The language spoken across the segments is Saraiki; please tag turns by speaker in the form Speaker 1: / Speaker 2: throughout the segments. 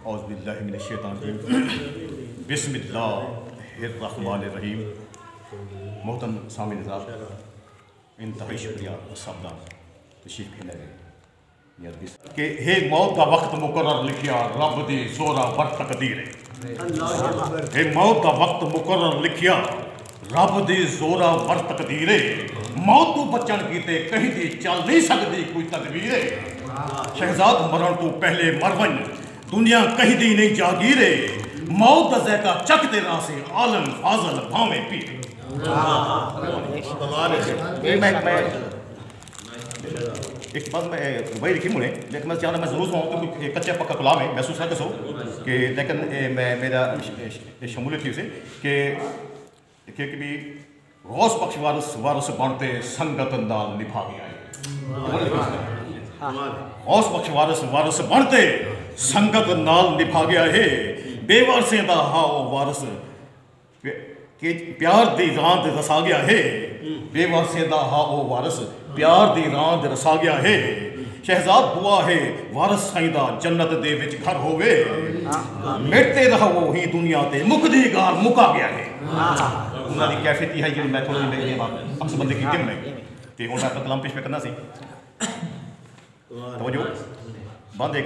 Speaker 1: اعوذ باللہ من الشیطان الرجیم بسم اللہ الرحمن الرحیم محترم سامی نظار انتہائی شکریہ سب دا تشریف کھیلا گئے کہ ہے موت دا وقت مقرر لکھیا رب دی زورا ور تقدیر ہے ہے موت دا وقت مقرر لکھیا رب دی زورا ور تقدیر اے۔ موت توں بچݨ کیتے کہیں دی چل نئیں سڳدی کوئی تدبیر اے۔ شہزاد مرݨ توں پہلے مر ونڄ دنیا کہیں دی نئیں جاگیر اے۔ موت دا ذائقہ چکھ تے راہسیں عالم فاضل بھانویں پیر۔ تے شمولیت تھیسی کہ کیک بی غوث بخش وارث وارث بن تے سنگت نال نبھاوی آئے غوث بخش وارث وارث بن تے سنگت نال نبھاوی آئے بے وارثیں دا ہا او وارث پیار دی راند رساوی آئے بے وارثیں دا ہا او وارث پیار دی راند رساگیا ہے شہزاد بوا ہے وارث سائیں دا جنت دے وچ گھر ہووے مرتے رہو ہی دنیا تے مکدی گار مکا گیا ہے انہاں دی کیفیت یہ ہے جڑی میں تھوڑا جی میرے بات اکس بندے کی کم میں تے ہن میں کلام پیش پہ کرنا سی توجہ بند ایک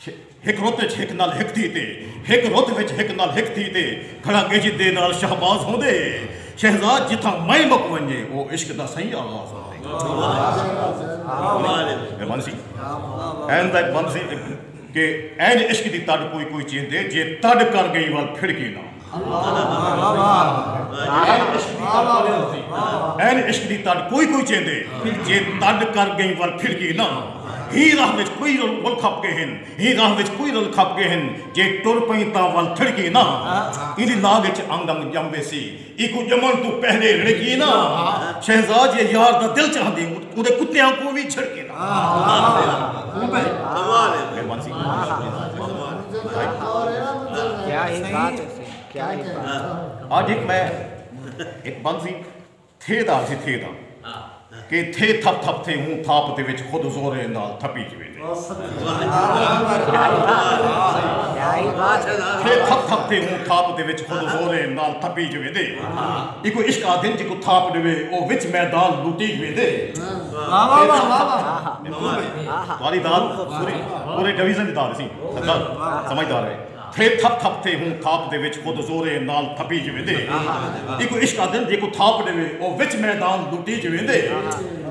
Speaker 1: ہک رت وچ ہک نال ہک تھی تے ہک رت وچ ہک نال ہک تھی تے گھڑا گجھ دے نال شہباز ہوندے شہزاد جتھاں مئیں مک ونجے او عشق دا سئیں آغاز ہوندے اے بند سی این دا اک بند سی کہ این عشق دی تڈ کوئی کوئی چیندے جے تڈ کر گئیں ول پھڑ کے نہ این عشق دی تڈ کوئی کوئی چیندے جے تڈ کر گئیں ور پھر گی نہ ہی راہ وچ کوئی رول کھپ گئے ہن ہی راہ وچ کوئی رول کھپ گئے ہن جے ٹر پئیں تاں ول تھڑ گی نہ ایندی لاگ وچ انگ انگ جم ویسی ایکوں جمن توں پہلے رڑ گی نہ شہزاد جے یار دا دل چاہندے اوندے کتیاں کوں وی جھڑ گی نہ۔ آج ایک میں ایک بنزی تھے دا جی تھے دا کہ تھے تھپ تھپ تھے ہوں تھاپ دے وچ خود زور اندال تھپی جوے دے تھے تھپ تھپ تھے ہوں تھاپ دے وچ خود زور اندال تھپی جوے دے ایک عشق آدھن جی کو تھاپ دے وے او وچ میدان لوٹی جوے دے تھوڑی داد پوری پورے ڈویژن دی داد سی سردار سمجھدار ہے تھے تھپ تھپ تھے ہوں تھاپ دے وچ خود زورے نال تھپی جویں دے ایکو عشق آدھن جیکو تھاپ ڈیوے او وچ میدان لٹی جویں دے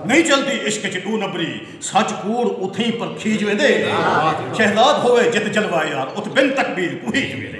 Speaker 1: نہیں چلدی عشق اچ ڈو نبری سچ کوڑ اتھیں پرکھی جویں دے شہزاد ہووے جت جلوہ یار ات بن تکبیر کوہی جویں دے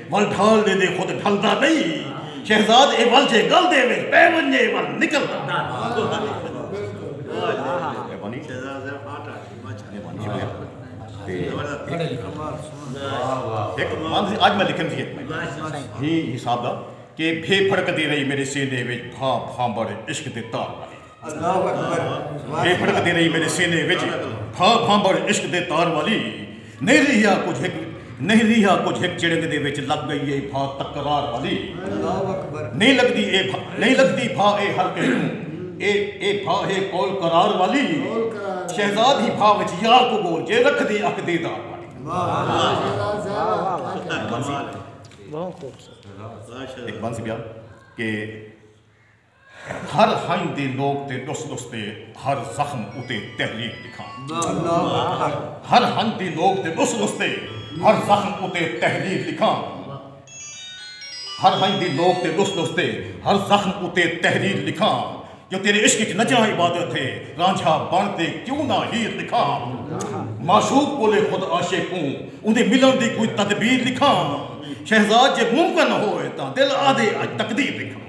Speaker 1: ول ڈھال دے دے خود ڈھلدا نئیں شہزاد اے ول جے گل دے وچ پے ونجے ول نکلدا اج میں لکھن سی ہی حساب دا کہ بھے پھڑک دی رہی میرے سینے وچ بھا بھانبڑ عشق دے تار اے پھڑکدی رہی میݙے سینے وچ بھا بھانبھڑ عشق دے تار والی نہیں ریہا کجھ ہک نہیں ریہا کجھ ہک چڑنگ دے وچ لگ گئی اے بھا تکرار والی نہیں لگدی اے بھا نہیں لگدی بھا اے ہر کہیں کوں اے اے بھا ہے قول قرار والی شہزاد ہی بھا وچ یار کوں ڳول جے رکھدی اکھ دیدار والی۔ ہر ہنج دے لوک تے ڈس ڈس تے ہر زخم اتے تحریک لکھاں۔ ہر ہنج دے لوک تے ڈس ڈس تے ہر زخم اتے تحریک لکھاں۔ ہر ہنج دے لوک تے ڈس ڈس تے ہر زخم اتے تحریک لکھاں۔ جو تیرے عشق اچ نچاں عبادت ہے رانجھا بن تے کیوں نہ ہیر لکھاں۔ معشوق کولے خود عاشق کوں اوندے ملݨ دی کوئی تدبیر لکھاں۔ شہزاد جے ممکن ہووے تاں دل آہدے اج تقدیر لکھاں۔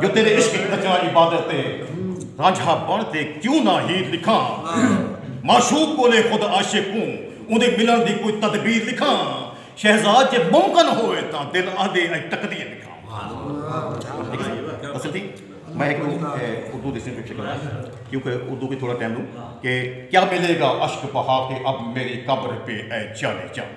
Speaker 1: جو تیرے عشق اچ نچاں عبادت اے رانجھا بݨ تے کیوں نہ ہیر لکھاں معشوق کولے خود عاشق کوں اوندے ملݨ دی کوئی تدبیر لکھاں شہزاد جے ممکن ہووے تاں دل آہدے اڄ تقدیر لکھاں میں ایک اردو دسیں پکچر کرنا کیونکہ اردو کی تھوڑا ٹائم لوں کہ کیا ملے گا عشق بہا کے اب میری قبر پہ اے جانے جان